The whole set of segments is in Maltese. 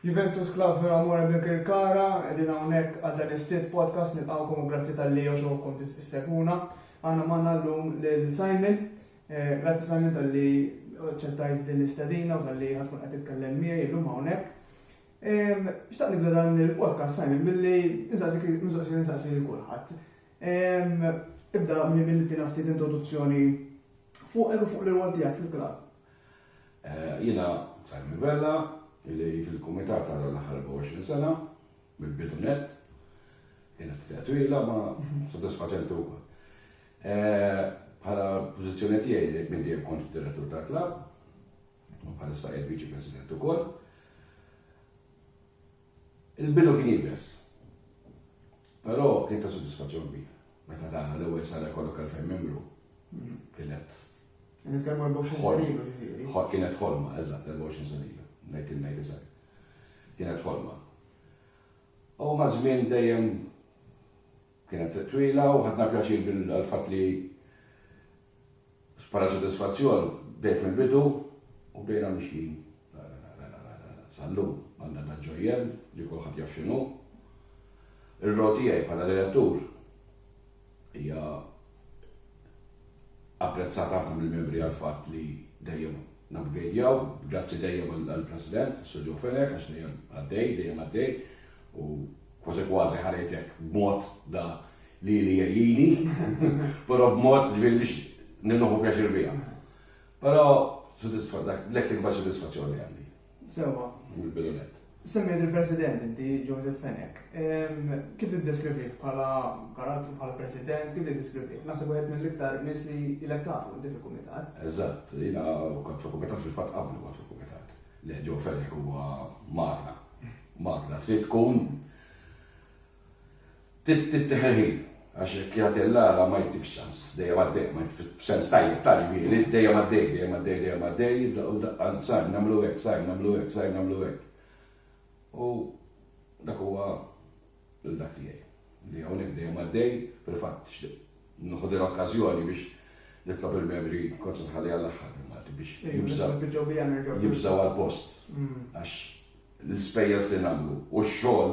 Juventus Club Vera More Birkirkara, qegħdin hawnhekk għal dan is-sitt podcast nilqgħukom u grazzi tal-li jogħġobkom tissegwuna. Għandna magħna llum lil Simon. Eh, grazzi Simon tal-li ċettajt din l-istadina u tal-li ħatkun qed titkellem miegħi illum hawnhekk. Xtaq nibda dan il-podcast Simon billi nistaqsik nistaqsik nistaqsik kulħadd. Ehm, ibda minn billi tina ftit introduzzjoni fuqek u fuq l-irwol tiegħek fil-klabb. Eh, jiena Simon Vella, li fil-kumitat għal l-aħħar 24 sena, mill-bidu net, kienet fija twila ma soddisfaċenti wkoll. Eh, bħala pożizzjoni tiegħi minn dejjem kont direttur tal-klabb, u bħala sajjed viċi president ukoll. Il-bidu kien jibes. Però kien ta' sodisfazzjon kbir meta dana l-ewwel sala jkollok elfejn membru. Kienet. Qed nitkellmu 24 sena ilu ġifieri. Kienet ħolma, eżatt, 24 sena ilu. Ngħid il-ngħid eżatt. Kienet ħolma. U maż-żmien dejjem kienet twila u ħadna pjaċir bil-fatt li Bħala sodisfazzjon, bdejt mill-bidu u bdejna mixjin sal-lum għal dan tal-ġojjel li kulħadd jaf x'inhu. Ir-role tiegħi bħala direttur hija apprezzata ħafna mill-membri għall-fatt li dejjem nabgredjaw, grazzi dejjem għall-President, Sir Joe Fenek, għax dejjem għaddej, dejjem għaddej, u kważi kważi ħarejtek b'mod da Lili jgħini, però b'mod ġifieri biex nieħu pjaċir biha. Però dak l-ikbar sodisfazzjoni għandi. Sewwa. Mill-bidunet. Semmejt il-President inti Joseph Fenek. Kif tiddeskrivih bħala karattru bħala President, kif tiddeskrivih? Naħseb wieħed mill-iktar nies li ilek tafu inti fil-Kumitat. Eżatt, jiena kont fil-Kumitat fil-fatt qablu kont fil-Kumitat. Le Joe Fenek huwa magna. Magna. Trid tkun Trid tittieħed ħin għax hekk jagħti Alla Alla ma jittikx ċans. Dejjem għaddej, ma jitf, b'sens tajjeb ta' ġifieri, dejjem għaddej, dejjem għaddej, dejjem għaddej, f'daqqa u f'daqqa sar nagħmlu hekk, sar nagħmlu hekk, sar nagħmlu hekk. U dak huwa l-dak tiegħi. Li hawnhekk dejjem għaddej, fil-fatt nħu din okkażjoni biex nitlob il-membri kont nħalli għall-aħħar il-Malti biex jibżaw għal-post. Għax l-ispejjeż li nagħmlu u x-xogħol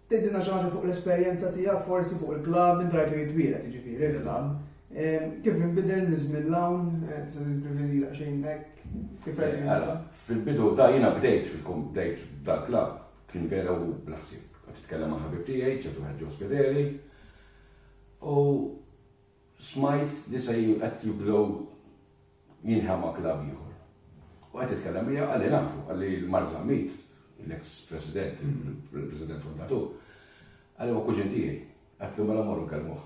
Tgħidilna xi ħaġa fuq l-esperjenza tiegħek forsi fuq il-klabb, int rajtu jitwieled jiġifieri l-klabb. Kif inbidel minn żmien 'l hawn, tista' tiddeskrivi lilha xejn hekk? Kif rajtu jinbidel? Fil-bidu ta' jiena bdejt fil-kom bdejt dal-klabb kien vera u bla ħsieb. Kont nitkellem ma' ħabib tiegħi, ċertu wieħed Joe Spederi, u smajt li se qed jibdew jinħa ma' klabb ieħor. U qed nitkellem miegħek għalli nafu, għalli Mark Zammit, l-eks president, il-president fundatur, għalli huwa kuġin tiegħi, għatlu mela morru nkellmuh.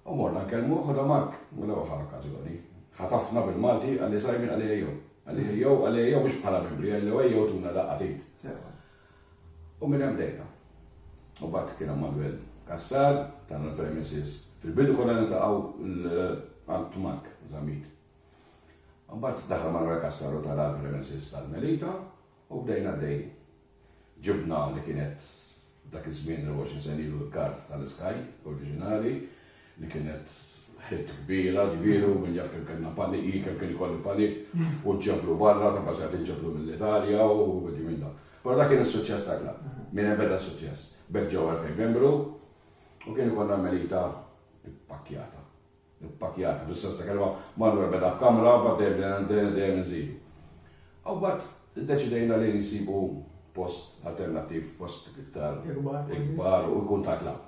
U morna nkellmuh u da Mark, mela waħar okkażjoni, ħatafna bil-Malti għalli sajmin għalli ejjew. Għalli ejjew, għalli ejjew mhux bħala membri, għalli ejjew tuna daqqa tgħid. U minn hemm bdejna. U mbagħad kien hemm Manwel Cassar, tagħna l-premises. Fil-bidu konna niltaqgħu għand Mark Zammit. U mbagħad daħal Manwel Cassar u tana l-premises tal-Melita u bdejna għaddejjin. Ġibna li kienet dak iż-żmien 24 sena ilu l-kard tal-Sky oriġinali. li kienet ħidt kbira, ġifieri u min jaf kemm kellna panic, jien kemm kien ikolli panic, u nġeblu barra, ta' kważi qed inġeblu mill-Italja u ħwieġi minn dawn. Però dak kien is-suċċess ta' klabb, minn ebeda suċċess. B'hekk ġew elfejn membru u kien ikollna l-Melita ppakkjata. Ppakkjata, fis-sens ta' kelma, marru ebeda b'kamra, mbagħad dejjem bdejna bdejna dejjem inżidu. U mbagħad iddeċidejna li nsibu post alternattiv, post iktar Ikbar kważi. ikbar u jkun tal-klabb.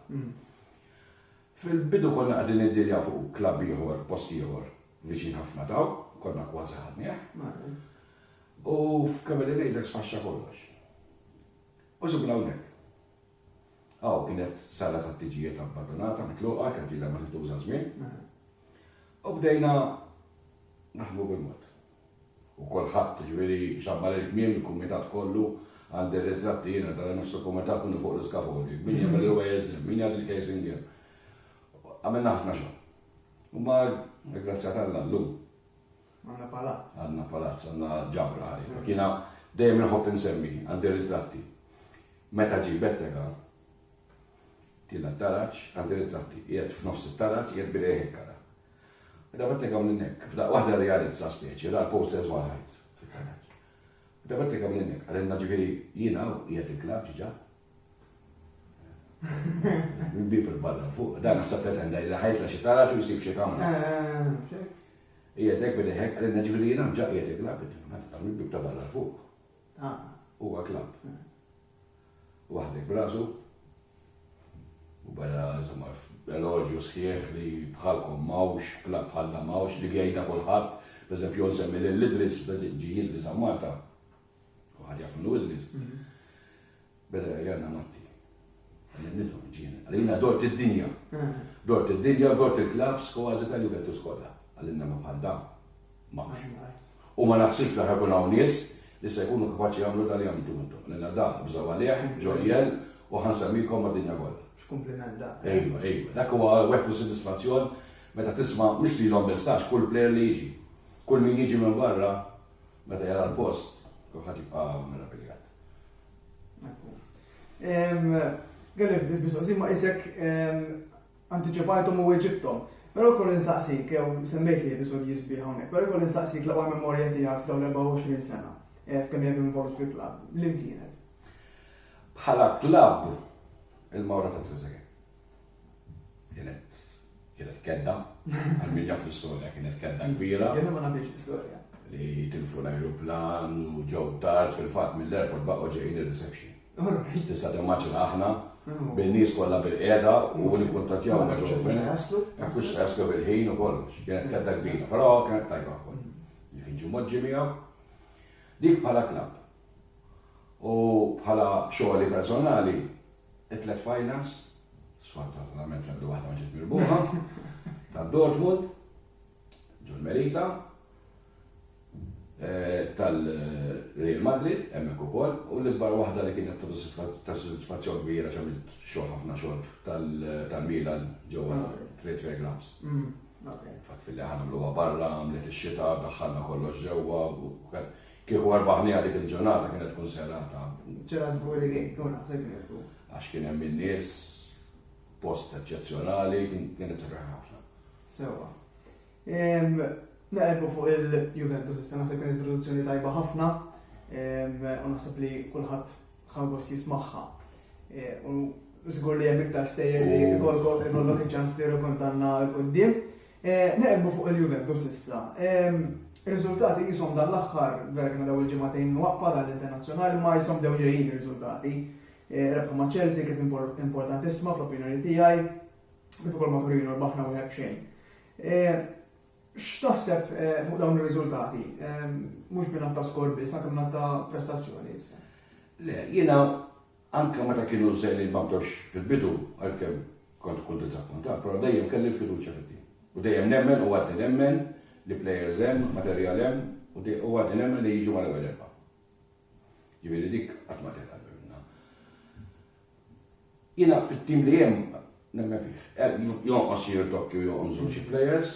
Fil-bidu konna qegħdin niddiljaw fuq klabb ieħor post ieħor viċin ħafna t'hawn, konna kważi ħadnieh. U f'kemm qegħdin ngħidlek sfaxxa kollox. U sibna hawnhekk. Hawn kienet sala tat-tiġijiet abbadunata, mitluqa, kienet ilha ma tintuża żmien. U bdejna naħdmu bil-mod. u kulħadd, jiġifieri x'abbar il-kmiem, il-kumitat kollu, għandi r-ritratti jiena ta' nofs il-kumitat minnu fuq l-iskafoli, min jagħmel il-wires hemm, min jgħaddi l-casing hemm. Għamilna ħafna xogħol. Imma grazzi ta' Alla llum. Għandna palazz. Għandna palazz, għandna ġabra ħaj. Mm. Kiena dejjem inħobb insemmi, għandi ritratti. Meta ġi bettega, tila taraċ, għandi ritratti, jgħed f'nofs it-taraċ, jgħed birejħek kara. Meta bettega minn hekk, f'daqqa waħda rrealizza speċi, ra l-posters fuq l-ħajt fil-kanal. Meta bettega minn hekk, qalilna ġifieri jiena u qiegħed il-klabb diġà. Bil-bieb il-barra l-fuq, dan naħseb pretenda li ħajtla xi taraġ u jsib xi kamra. Qiegħed hekk bideh hekk, qalilna ġifieri jiena diġà qiegħed il-klabb, dan mill-bieb ta' barra l-fuq. Huwa klabb. waħdek b'rasu, u beda insomma eloġju sħiħ li bħalkom m'hawnx, klabb bħal dan m'hawnx li jgħidha kulħadd, pereżempju nsemmi lil Idris ġi Idris hawn Malta. U ħadd jaf minnu Idris. Mhm. Beda jgħidna Matti. Għallimnitu ġiena. Għallimna dort id-dinja. Mhm. Dort id-dinja, dort il-klabbs u għażi tal-Juventus kollha. Għallimna ma bħal dan. magħna. U ma naħsibx li ħa jkun hawn nies li se jkunu kapaċi jagħmlu dak li għamiltu intom. Lilna dan bżgħu għalih, ġojjel, u ħa nsemmikom mad-dinja kollha. X'kumpliment dan. Ejwa, ejwa. Dak huwa weħdu sodisfazzjon meta tisma' mhux lilhom biss għax kull plejer li jiġi, kull min jiġi minn barra meta jara l-post, kulħadd jibqa' meraviljat. Galli ftit mistoqsin ma' isek Antiċipajthom u weġibthom. Però jkolli nsaqsik, jew semmejt li episodji sbieħ hawnhekk, però jkolli nsaqsik l-aqwa memorja tiegħek f'dawn l-24 sena, f'kemm ilek involut fil-klabb, liem kienet? Bħala klabb, il-Mawra ta' Trezeguet. Kienet kienet kedda, għal min jaf l-istorja, kienet kedda kbira. Jiena ma nafx l-istorja. Li tilfu l-ajruplan u ġew tard fil-fatt mill-airport baqgħu ġejjin ir-reception. Tista' timmaġina aħna bin-nies kollha bilqiegħda u nikkuntattjaw ma' John Fenech, hekk mhux se jaslu bil-ħin u kollox. Kienet kedda kbira, però kienet tajba wkoll. Li kien ġie mgħoġġi miegħu. Dik bħala klabb. U bħala xogħli personali, it-tliet finals, sfortunatament l-ebda waħda ma ġiet mirbuħa, ta' Dortmund, ġol Merita, tal-Real Madrid hemmhekk ukoll u l-ikbar waħda li kienet ta' sodisfazzjon kbir għax għamilt xogħol ħafna xogħol tal-Milan ġewwa Trade Fair Grounds. Fatt filli aħna nagħmluha barra, għamlet ix-xita, daħħalna kollox ġewwa u kieku rbaħniha dik il-ġurnata kienet tkun serata. Ġara żgur li kien tkun aħseb kienet tkun. Għax kien hemm in-nies, post eċċezzjonali, kienet sabiħ ħafna. Sewwa. Naqerbu fuq il-Juventus issa naħseb kien introduzzjoni tajba ħafna u naħseb li kulħadd ħangost jismagħha. E, u żgur li hemm iktar stejjer li jkollok ikollok iċ-ċans li rkontanna l qudiem e, Naqerbu fuq il-Juventus issa. Riżultati jisom dan l-aħħar vera kien daw il-ġimagħtejn waqfa dan l-internazzjonali ma jisom dew ġejjin riżultati. E, rebħa ma' Chelsea kif importantissima fl-opinjoni tiegħi, kif ukoll ma' Torino rbaħna wieħed b'xejn. Eh, x'taħseb eh, fuq dawn ir-riżultati? Eh, mhux minn ta' skor biss, anke minn ta' prestazzjoni. Le, jiena anke meta kienu żejli ma bdewx fil-bidu għalkemm kont kull diżappuntat, però dejjem kelli l-fiduċja fil U dejjem nemmen u għaddi nemmen li plejers hemm, materjal hemm u għaddi nemmen li jiġu mal-ewwel erba'. Ġifieri dik qatt ma teħla minna. Jiena fit-tim li hemm nemmen fih. Jonqos xi rtokki u jonqsu xi plejers,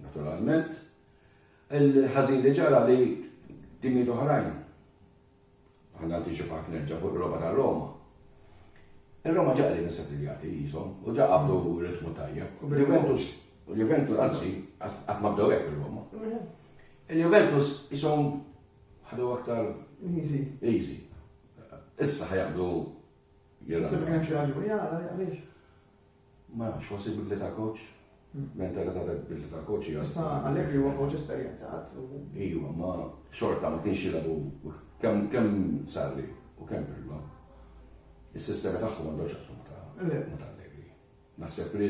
naturalment. Il-ħażin li ġara li timijiet oħrajn, ħalli nantiċipak nerġa' fuq il-logħba ta' Roma, ir-Roma ġa qegħdin issettiljati qishom u ġa qabdu ritmu tajjeb. Il-Juventus, il-Juventus anzi, qatt ma bdew hekk ir-Roma. Il-Juventus qishom ħadu aktar easy. Issa ħajaqdu jilgħabu. Taħseb li hemm xi raġuni għala għaliex? Ma nafx, forsi bidli ta' coach. Mentalità ta' bidli ta' coach hija. Issa Allegri huwa coach esperjenzat. Iva, ma xorta ma kienx jilgħabu kemm Sarri u kemm Pirlo. Is-sistema tagħhom għandhom x'aqsmu ta' Allegri. Naħseb li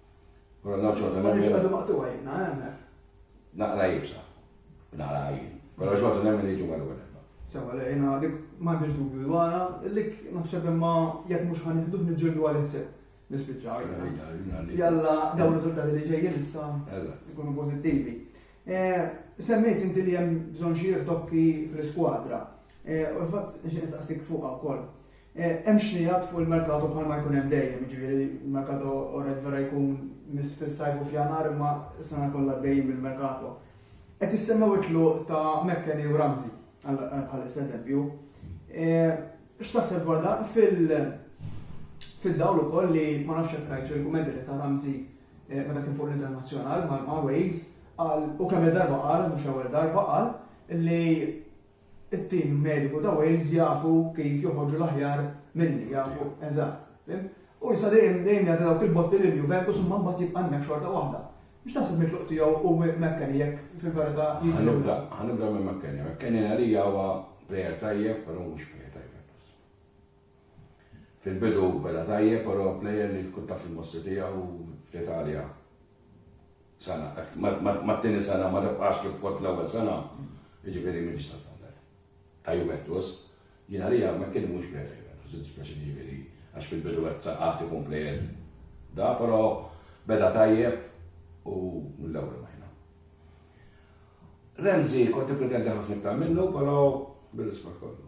Però ġo xorta nemmen. Għaliex għadu maqtuwa jibna, għemna. Naqra jibsa. Naqra għajin. Però xorta nemmen li ġumma l-għu nemmen. Sewa, le, jena dik mandiġ dubju dwarra, lik naħseb imma jek mux ħanħdu nġildu għal ħseb. Nispiċċaw. Jalla, daw riżultati li ġejjin issa jkunu pozittivi. Eh, semmejt inti li hemm bżonn xi tokki fl-iskwadra. Eh, u l-fatt nxieq nsaqsik fuqha wkoll. Hemm xnigħat fuq il-merkato bħalma jkun hemm dejjem, jiġifieri l-merkato orrett vera jkun miss fis-Sajf u f'Jannar imma s-sena kollha għaddejjin bil-merkato. Qed jissemmew it-tluq ta' McKennie u Ramsey bħalissa eżempju. X'taħseb dwar dan fid-dawl ukoll li ma nafx jekk rajtx il-kummenti li ta Ramsey meta kien fuq l-internazzjonal ma' Wales qal u kemm-il darba qal, mhux l-ewwel darba, qal li it-tim mediku ta' Wales jafu kif joħorġu l-aħjar minni, jafu eżatt, fhimt? U issa dejjem, dejjem jagħti dawk il-botti lil Juventus imma mbagħad jibqa' hemmhekk xorta waħda. Mhux taħseb li t-tluq tiegħu hu McKennie jekk fil-verità jiġi lura? Ħanibda, ħanibda minn McKennie. McKennie għalija huwa plejer tajjeb, però mhux plejer ta' Juventus. Fil-bidu beda tajjeb però plejer li tkun taf il-mostri tiegħu fl-Italja sena hekk mat-tieni sena ma tibqax kif kont fl-ewwel sena, jiġifieri m'intix ta' standard ta' Juventus. Jien għalija McKennie mhuwiex plejer ta' Juventus, jiddispjaċini jiġifieri għax fil-bidu qed saqqaħt ikun plejer da, però beda tajjeb u mill-ewwel imajna. Ramsey kont nippretendi ħafna iktar minnu però bir-rispett kollu.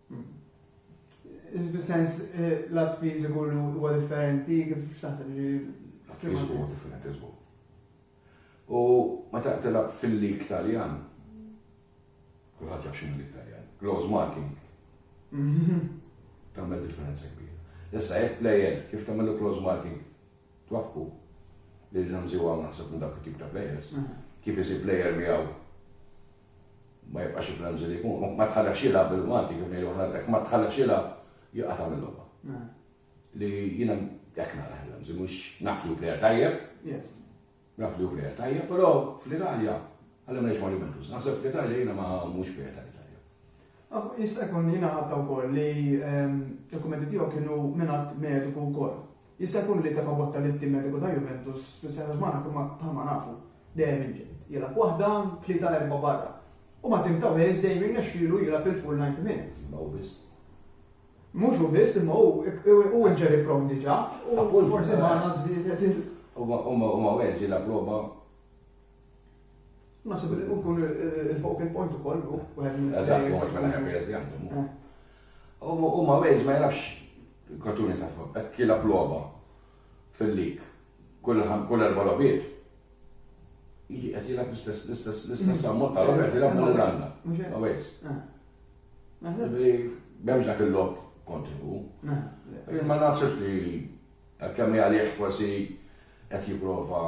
Fis-sens l-att fiżiku li huwa differenti kif x'taħseb li Att fiżiku huwa differenti żgur. U meta tilgħab fil-lig Taljan, kulħadd jaf x'inhu lig Taljan, close marking. Tagħmel differenza kbira. Issa jekk plejer kif tagħmel close marking twafqu li l-Ramsey huwa naħseb minn dak it-tip ta' plejers, kif isib plejer miegħu Ma jibqax il-frenzy li jkun, ma tħallekx jilgħab bil-Malti kif ngħidu aħna l-Grek, ma tħallekx jilgħab jibqa' tagħmel logħba. Li jiena hekk nara l-frenzy, mhux naf li hu plejer tajjeb, naf li hu plejer tajjeb, però fl-Italja għalli ma ngħidx ma' Juventus, naħseb fl-Italja jiena ma mhux plejer tajjeb. Jista' jkun li jiena ħadd wkoll li l-kummenti tiegħu kienu mingħand mediku wkoll. Jista' jkun li tefa' botta lit-tim mediku ta' Juventus fl-istess għax Manak imma bħalma nafu dejjem inġedd. Jilgħab waħda, tlieta l-erbgħa barra. U mat-tim ta' Wales dejjem jirnexxielu jilgħab il-full 90 minutes. Imma hu biss. Mhux hu biss imma hu hu injury prone diġà u forsi Manak żiedet il. Imma Wales jilgħab logħba. Naħseb li nkun il-focal point ukoll u wieħed minn. Eżatt, u mhux mela ħafna jeżi għandhom. U ma wejż ma jarafx katuni ta' fuq, hekk kiela ploba fil-lik kull erba' lobiet. Jiġi qed jilgħab l-istess l-istess l-istess ammont ta' lobiet jilgħab minn l-għandna. Ma wejż. M'hemmx dak il-lob kontinwu. Ma naħsibx li kemm għalih forsi qed jipprova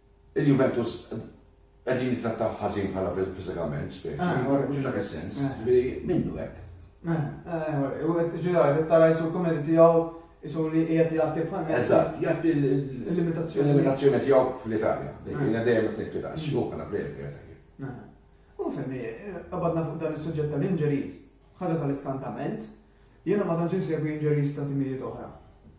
Il-Juventus qegħdin jittrattawh ħażin bħala fiżikament, speċi. Ah, Mhux dak is-sens, ah. ġifieri minnu hekk. Ah, ġifieri tara jisu l-kumedi tiegħu jisu li qiegħed jagħti bħal. Eżatt, jagħti l-limitazzjoni. L-limitazzjoni tiegħu fl-Italja. Jiena dejjem qed ngħid fl-Italja, xi bħala plejer qiegħed U femmi, qabadna fuq dan is-suġġett tal-injuries, ħaġa tal-iskantament, Jiena ma tantx insegwi injuries ta' timijiet oħra.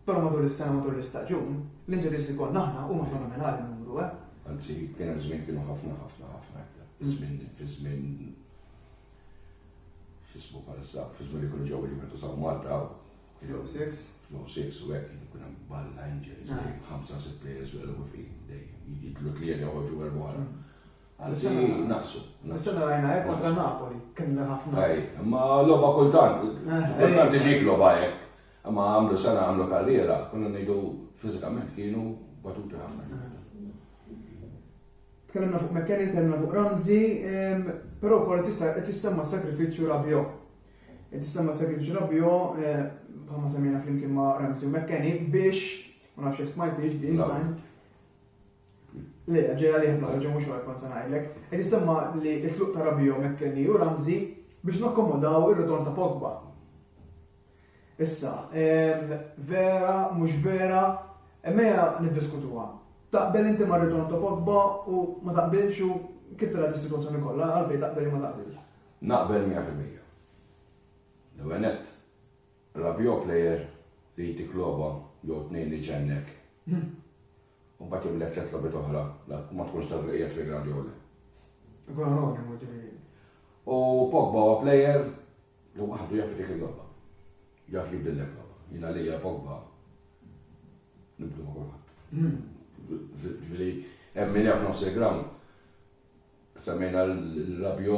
Però matul is-sena matul l-istaġun, l-injuries li kollna aħna huma fenomenali n-numru eh. Anzi, kien hemm żmien kienu ħafna ħafna ħafna iktar. Fi żmien fi żmien x'ismu bħalissa, fi żmien li kienu ġew il-Juventus hawn Malta hawn. Fl-06? Fl-06 u hekk kienu kien hemm balla injuries, ħamsa sitt players bil-ewwel fejn dejjem jidlu tlieta joħorġu erbgħa. Anzi, naqsu. Nisena rajna hekk kontra Napoli, kien ħafna. Ej, ma logħba kultant, eh, kultant iġik eh. logħba hekk. Ma għamlu sena għamlu karriera, konna ngħidu fiżikament kienu batuti ħafna. Eh. Tkellimna fuq McKenny, tkellimna fuq Ramzi, ehm, però wkoll tissemma sakrifiċċju Rabio. Tissemma sakrifiċċju Rabio, bħalma semmejna flimkien ma' Ramzi u McKenny biex, ma nafx smajtix din sajn, Le, ġej għalih naqra ġew mhux wara kont se ngħidlek. Qed jisemma li t-tluq ta' Rabiot, McKennie u Ramsey biex nakkomodaw ir-ritorn ta' Pogba. Issa, ehm, vera, mhux vera, emmejja niddiskutuha. Taqbel inti ma' ritorn ta' Pogba u ma taqbilx u kif tara dis-sitwazzjoni kollha għalfejn taqbel ma taqbilx? Naqbel 100%. L-għenet, Rabiot player li jtik logħba jew tnejn li ġennek. Hmm. U mbagħad imlek tliet logħbiet oħra u ma tkunx taf jekk qiegħed fil-ground jew le. Ikun anonimu ġifieri. U Pogba huwa plejer li waħdu jaf dik il-logħba. Jaf jibdillek logħba. Jiena lejja Pogba nibdu ma' kulħadd. Hmm. Ġifieri hemm min jaf nofs il-ground semmejna l-Rabio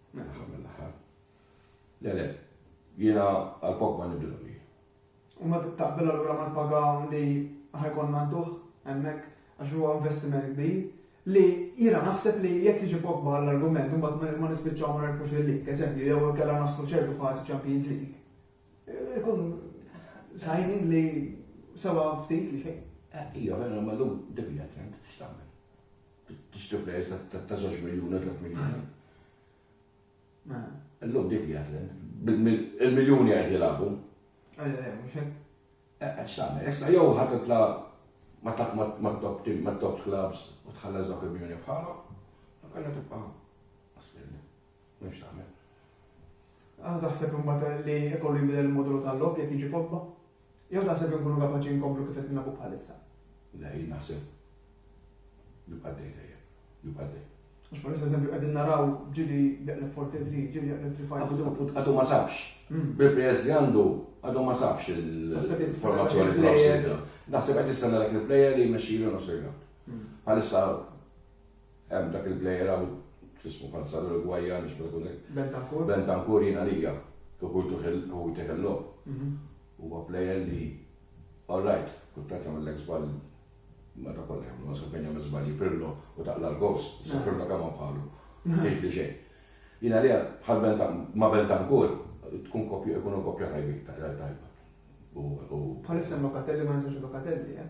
L-aħħar mill-aħħar. Le le, jiena għal Pogba nibdilhom jien. U ma taqbel allura mal-paga li ħajkonna ntuħ hemmhekk għax huwa investiment kbir li jiena naħseb li jekk jiġi Pogba l-argument imbagħad ma nispiċċaw ma nerfux il-lig, eżempju, jew kellha naslu ċertu fażi Champions League. Eh, ikun signing li sewa ftit li xejn. Eh, ija, vera, ma l-lum, dik hija trend, x'tagħmel? Tixtri plejers ta' żewġ miljun u tliet miljuni. Illum dik li għatlen. Il-miljuni għet jilabu. Xamel, issa jew ħat titla ma taq ma top tim, ma top clubs u tħalla zawk il-miljoni bħalhom, għanna tibqa' M'hemmx tagħmel. Għandha taħseb imbagħad li ikollu jinbidel il-modulu tal-logħob jekk jiġi Pogba? Jew taħseb inkunu kapaċi nkomplu kif qed nilagħbu bħalissa? Le, jien naħseb nibqa' dej dejjem, nibqa' dej. Għax bħalissa eżempju qegħdin naraw ġili jaqleb forti tri, ġili jaqleb tri fajn. Għadu ma sabx. Hmm. Bil-players li għandu għadu ma sabx il-formazzjoni tal-Arsenal. Naħseb qed jistenna dak il-player li jmexxilu nofs il-għand. Bħalissa Hemm dak il-plejer hawn, x'ismu bħal sar l-Urugwajjan, nix meta kun hekk. Bentancur. Bentancur jien għalija, kif hu jtih il-logħob. Huwa plejer li all right, kultant jagħmellek żball meta kollha jagħmlu, naħseb fejn jagħmel żbalji Pirlo u taqla' l-goals, issa Pirlo kemm hawn bħalu. Ftit li xejn. Jien għalija bħal Bentancur, ma' Bentancur tkun koppja, ikunu koppja tajbin, tajba. Bħalissa Locatelli ma ninsewx Locatelli, eh?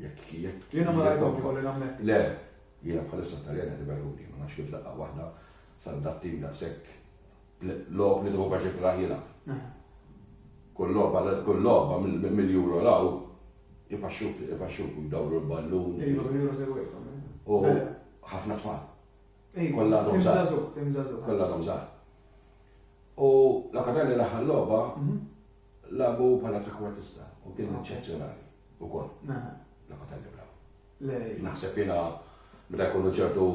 Jekk jekk. Jiena ma rajthomx kolli nammetti. Le, jiena bħalissa Taljan qed iberruni, ma nafx kif daqqa waħda sar dat-tim daqshekk logħob li tħu biex ikraħ jilgħab. Eh. Kull logħba kull logħba mill-juro law ipaxxuk ipaxxuk dawru l-ballun. Iva, mill-juro segwejthom. Eh. U eh. ħafna tfal. Kollha għadhom żgħar. Kollha għadhom żgħar. U l-akademja l-aħħar logħba mhm. labu bħala trekwartista u kien eċċezzjonali. Ukoll. Mela. Locatelli brav. Le. Naħseb jiena meta jkunu ċertu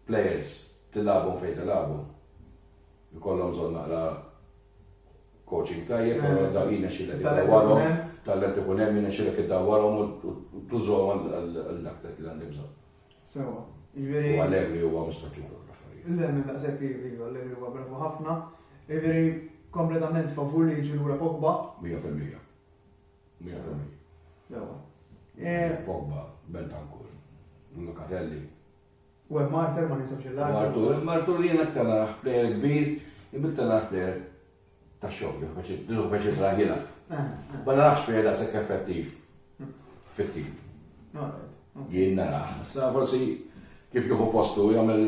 players tilgħabhom fejn tilgħabhom. Ikollhom bżonn naqra coaching tajjeb, però dak jiena xilek id-dawwarhom, talent ikun hemm jiena xilek id-dawwarhom u tużhom għal dak dak li għandi bżonn. Sewa. Ġifieri. U Allegri huwa mistaġġur l-affarijiet. Le, minn daqshekk iva, Allegri huwa bravu ħafna. Ġifieri kompletament favur li jiġi lura Pogba. Mija fil-mija. Pogba, Bentancur, Locatelli. U hemm Marter ma ninsewx il-lar. Martur, Martur li jien aktar naraħ plejer kbir, ibiktar naraħ plejer ta' xogħol, jekk biex jitla' jilgħab. Ma narax plejer da' sekk effettiv fit-tim. Jien narax. Sta forsi kif jieħu postu jagħmel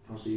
forsi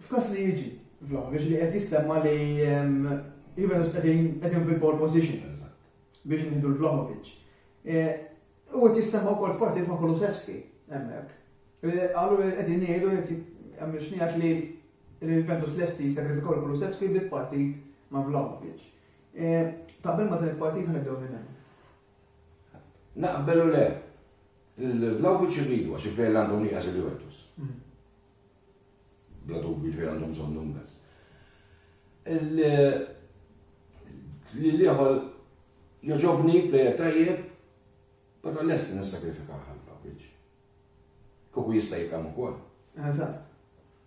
F'każ li jiġi Vlahovic li qed jissemma li Juventus qegħdin fil-pole position biex nieħdu l-Vlahovic. U qed jissemma wkoll f'partit ma' Kulusevski hemmhekk. Qalu qegħdin jgħidu hemm xnijat li l-Juventus lesti jsagrifikaw l-Kulusevski bi partit ma' Vlahovic. Taqbel ma' din il-partit ħanibdew minn hemm. Naqbel u le. Il-Vlahovic irridu għax il-plejer li għandhom nieqes il-Juventus. Bla dubju jiġifieri għandhom bżonn Nunez. Li l-ieħor joġobni plejer tajjeb, però lest nissakrifika ħal Vlahovic. Kuku jista' jikam ukoll. Eżatt.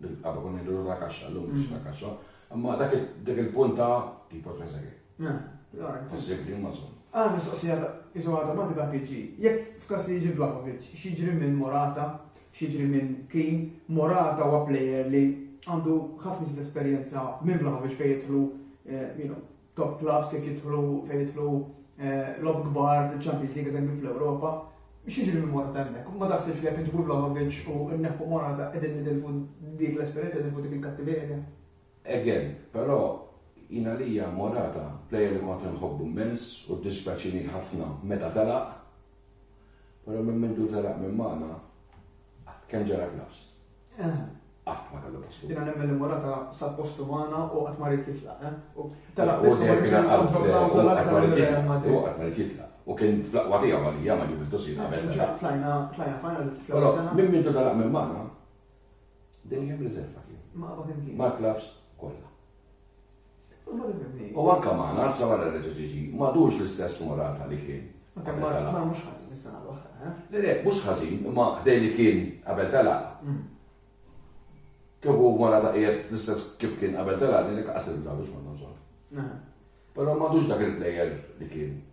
Bil-qaba konna ngħidu la kaxxa, llum mhix la kaxxa. Imma dak il-punt ta' tipo trezegi. Possibbli, imma żomm. Għal mistoqsija iżu għadha ma tibgħat tiġi. Jekk f'każ li jiġi Vlahovic, x'jiġri minn Morata, x'jiġri minn Keane, Morata huwa plejer li għandu ħafna iżjed esperjenza minn Vlahovic fejn jidħlu, you know, top clubs kif jidħlu fejn jidħlu lob kbar fil-Champions League eżempju fl-Ewropa, xieġri minn Morata hemmhekk? Ma taħsibx li jekk inġibu Vlahovic u nneħħu Morata qegħdin nitilfu dik l-esperjenza nitilfu dik il-kattiverja? Again, però jien għalija Morata plejer li kont inħobbu mmens u ddispjaċini ħafna meta telaq, però minn mindu telaq minn magħna kemm ġara klass. Qatt ma kellu postu. Jiena nemmen li Morata sab postu magħna u qatt ma rid jitlaq, eh? U telaq biss u qatt ma rid jitlaq. U kien fl-aqwa tiegħu għalija ma' Juventus jiena għamilt għax. Imma tlajna tlajna final fl-ewwel sena. Minn minn telaq minn magħna dejjem riserva kien. Ma' qabad imkien. Mal-klabbs kollha. U anke magħna, sa wara reġa' ġie ġie, m'għadux l-istess Morata li kien qabel telaq. Imma mhux ħażin is-sena l-oħra, eh? Le le, mhux ħażin, imma ħdejn li kien qabel telaq. Kieku Morata qiegħed l-istess kif kien qabel telaq, ngħidlek lanqas li nibża' biex morna nżorru. Però m'għadux dak il-plejer li kien.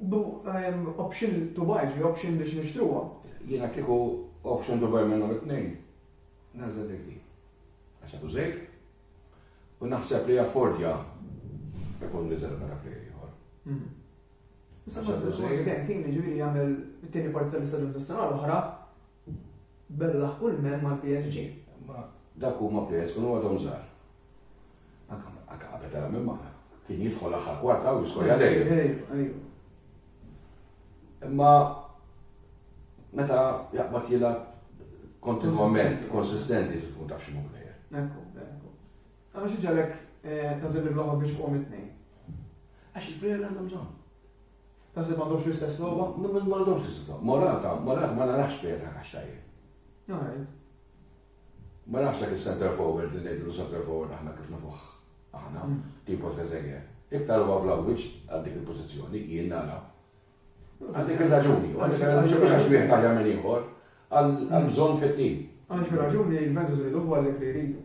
Bu option to buy, ġi option biex nixtruha. Jiena kieku option to buy minnhom it-tnejn, nagħżel dik di. Għax għadu żejt, u naħseb li affordja ikun niżel minn dak li ieħor. Issa ma tfux ma jibek, kien ġifieri jagħmel it-tieni parti tal-istaġun tas-sena l-oħra bella kull men mal-PSG. Ma dak huma pjez u għadhom żgħar. Anka qabel tara minn ma kien jidħol aħħar kwarta u jiskorja dejjem. Imma meta jaqbad jilgħab kontinuament, konsistenti tkun taf x'inhu plejer. Ekku, ekku. Għamma xi ġalek eh, ta' żibir l-oħor biex fuq it-tnejn. Għax il-plejer għandhom bżonn. Taħseb m'għandhomx l-istess logħba? M'għandhomx l-istess logħba. Morata, Morata ma narax plejer ta' kaxtajjeb. Ma nafx dak is-centre forward li ngħidulu centre forward aħna kif nafuh aħna, tipo Trezeguet. Iktar huwa Vlahovic għal dik il-pożizzjoni, jien nara. Għal dik ir-raġuni, u għalhekk għal mhux għax wieħed aħjar minn ieħor, għall-bżonn fit-tim. Għal xi raġuni Juventus iriduh u għalhekk li jridu.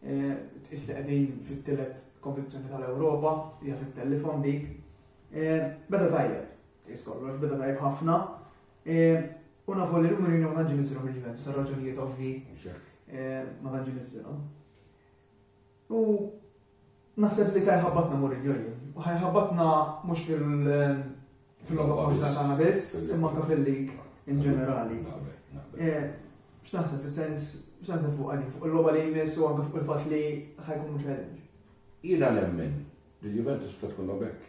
Tqis li qegħdin fit-tielet kompetizzjoni tal-Ewropa, hija fit-telefon dik. Beda tajjeb, tqis kollox, beda tajjeb ħafna. U nafu li Rumor Union ma tantx nisiru mill-Juventus għal raġunijiet ovvi. Ma tantx nisiru. U Naħseb li se jħabbatna Mourinho jien. U ħajħabbatna mhux fil-logħba kontra tagħna biss, imma anke fil-lig in ġenerali. Eh, x'naħseb fis-sens, x'naħseb fuq għalik, fuq il-logħba li jmiss u anke fuq il-fatt li ħajkun mhux għedin. Jiena nemmen li l-Juventus ta' tkun bekk.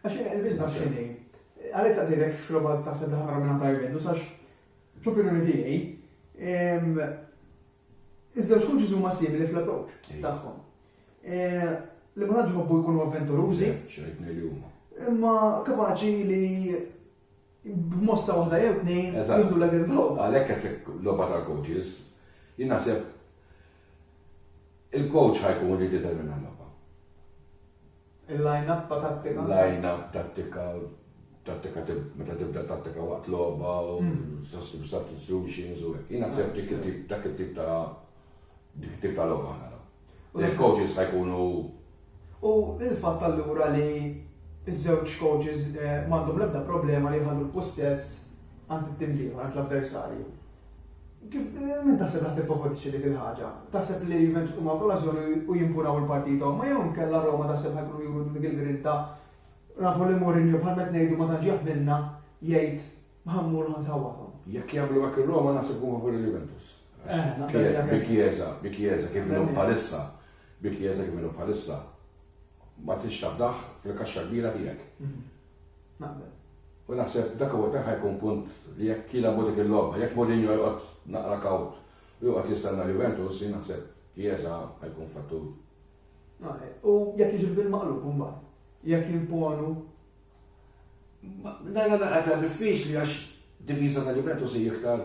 Għax il-bizna xini, għalet sa' zirek xroba ta' sebda ħamra minna ta' juventus, għax fl-opinjoni tijaj, iż-żewġ kuġiż huma simili fl-approċ tagħhom. Eh, li ma tantx ħobbu jkunu avventurużi. Xejn li huma. Imma kapaċi li b'mossa waħda jew tnejn jidulek il-globa. Għalhekk qedlek logħba tal-coaches, jien naħseb il-coach ħajkun li determina l-logħba. Il-line-up ta' tattika. Line-up tattika, tattika meta tibda tattika waqt logħba u mm. substitutions u hekk. Jien naħseb dik it-tip dak it-tip ta' dik it-tip ta' logħba ħana. u l-coaches ħa jkunu U l-fatt allura li ż-żewġ coaches m'għandhom l-ebda problema li jħallu l-pussess għand it-tim l-ieħor, għand l-avversarju. Kif min taħseb li ħa tiffavorixxi dik il-ħaġa? Taħseb li Juventus huma b'okażjoni u jimpunaw il-partita huma jew inkella Roma taħseb ħa jkunu juru dik il-grinta nafu li Mourinho bħal qed ngħidu ma tantx jaħmilna jgħid ħa mmur u ħa nsawwathom. Jekk jagħmlu hekk ir-Roma naħseb ikunu favur il-Juventus. Bi kjeza, bi kjeza kif inhu bħalissa, bi kjeza kif inhu bħalissa, ma tix tafdaħ fil-kaxxa kbira tiegħek. Mhm. U naħseb dak u dak ħajkun punt li jekk kila bodik il-logħba, jekk Mourinho jqgħod naqra kawt u jqgħod jistenna Juventus, jien naħseb kjeza ħajkun fattur. Eh, u jekk jiġu bil-maqlub mbagħad, jekk jimponu. Dajna naqgħet diffiċli għax diviża ta' Juventus hija iktar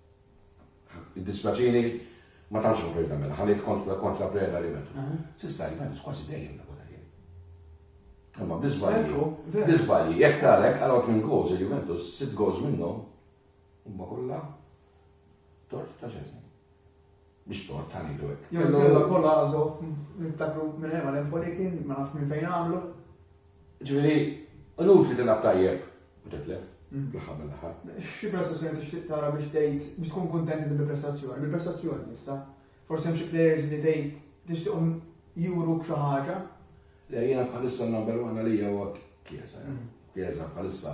Jiddispjaċini, ma tantx ruħi nagħmel, ħa ngħid kont kont la preda li metu. S'issa l-Juventus kważi dejjem lagħbu tajjeb. Imma biżbalji, biżbalji, jekk talek għal għod minn goals il-Juventus, sitt goals minnhom, huma kollha tort ta' xejn. Mhix tort ta' ngħidu hekk. Jew inkella Collazo, niftakru minn Hemm Għal Empoli kien, ma nafx minn fejn għamlu. Ġifieri, inutli tilgħab tajjeb u titlef, fl-aħħar mill-aħħar. Xi prestazzjoni tixtieq tara biex tgħid, biex tkun kuntent inti bil-prestazzjoni? Bil-prestazzjoni issa? Forsi hemm xi players li tgħid tixtieqhom juruk xi ħaġa? Le, jiena bħalissa n-number one għalija huwa Chiesa. Chiesa bħalissa.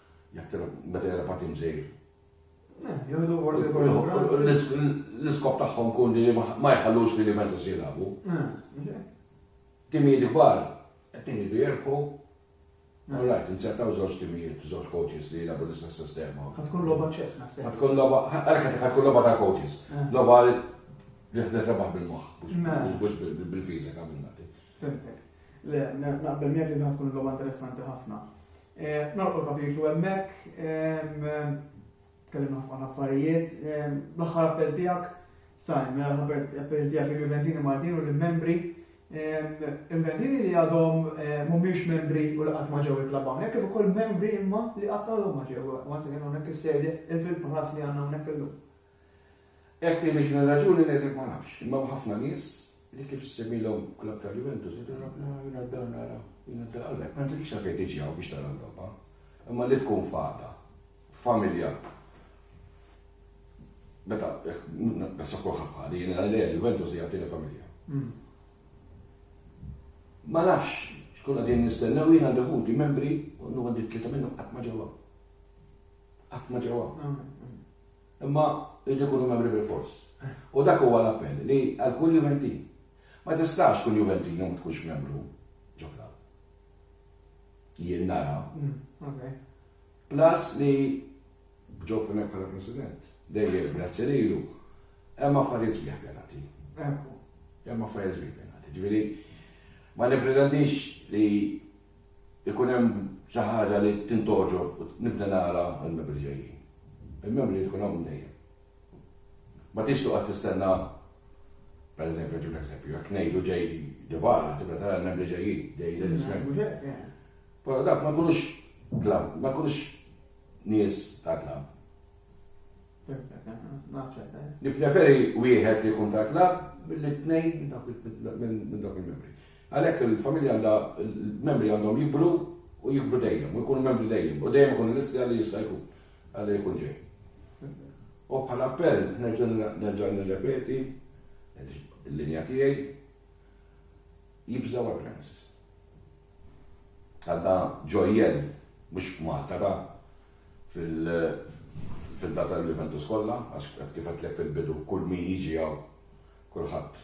Jattira meta jara patin żgħir. Eh, Jieħdu forsi kol. L-iskop tagħhom kun li ma jħallux li l-Juventus jilagħbu. Eh, timijiet kbar, qed timijiet jerħu. Eh. All right, insertaw żewġ timijiet, żewġ coaches li jilagħbu l-istess sistema. Ħatkun logħba ċess naħseb. Ħatkun logħba, għalhekk ħatkun logħba ta' coaches. Logħba li ħdet rebaħ bil-moħħ, mhux bil-fiżika bil-nati. Fimtek. Le, naqbel miegħek li ħatkun logħba interessanti ħafna. Nagħlqu l-kapitlu hemmhekk. Tkellimna fuq ħafna affarijiet. L-aħħar appell tiegħek, Sajm, mela l-aħħar appell tiegħek il-Juventini Maltin u l-membri. Il-Juventini li għadhom mhumiex membri u li qatt ma ġew il-klabb hawnhekk, kif ukoll membri imma li qatt għadhom ma ġew, once again, hawnhekk is-sede, il-Field Palace li għandna hawnhekk illum. Hekk tgħidilx minn raġuni ngħidlek ma nafx, imma hemm ħafna nies li kif issemmilhom klabb ta' Juventus jgħidulhom aħna jiena dan nara, jiena dan allura ma nagħtikx sa fejn tiġi hawn biex tara l-logħba. Imma li tkun f'għada, f'familja Meta, nasa kulħadd bħali, jiena għalija Juventus hija tieni familja. Hmm. Ma nafx, xkun għadin nistennew jien għandi ħuti membri, u għandi tlieta minnhom qatt ma ġewwa. Qatt ma ġewwa. Hmm, hmm. Imma jridu jkunu membri bilfors. U dak huwa l-appell li għal kull Juventin. Ma tistax tkun Juventin u ma tkunx membru ġo klabb. Jien nara. Plus li b'ġo f'hemmhekk bħala President. Dejjem grazzi lilu. Hemm affarijiet sbieħ pjanati. Hemm affarijiet sbieħ pjanati. Ġifieri ma nippretendix li ikun hemm xi ħaġa li tintgħoġob u nibda nara l-membri ġejjin. Il-membri jrid ikun hawn dejjem. Ma tridx toqgħod tistenna pereżempju ġib eżempju, jekk ngħidu ġej Dybala, tibda tara l-membri ġejjin, ġej l Però dak ma jkunux klabb, ma jkunux nies ta' klabb. Nippreferi wieħed li jkun ta' klabb billi tnejn minn dawk il-membri. Għalhekk il-familja għandha, il-membri għandhom jikbru u jikbru dejjem u jkunu membri dejjem u dejjem ikunu lesti għal li jista' jkun, għal li jkun ġej. U bħala appell nerġa' nerġa' nirrepeti l-linja tiegħi jibżgħu għal premises. Għal da ġojjel mhux Malta da fil-data tal-Juventus kollha għax kif għedtlek fil-bidu kull min jiġi hawn kulħadd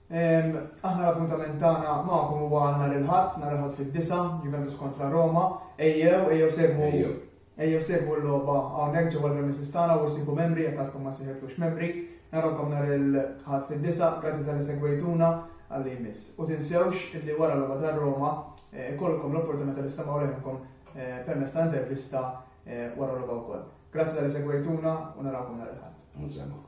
Aħna l-appuntament tagħna magħkom huwa nhar il-Ħadd, nhar il-Ħadd fid-disgħa, Juventus kontra Roma. Ejjew, ejjew segwu, Ejjew. ejjew segwu l-logħba hawnhekk ġewwa l-premises tagħna u ssibu membri jekk għadkom ma sejħiltux membri. Narawkom nhar il-Ħadd fid-disgħa, grazzi talli segwejtuna għalli jmiss. U tinsewx illi wara l-logħba tar-Roma ikollkom l-opportunità li stemgħu leħinkom permezz ta' intervista wara l-logħba wkoll. Grazzi talli segwejtuna u narawkom nhar il-Ħadd. U nsemgħukom.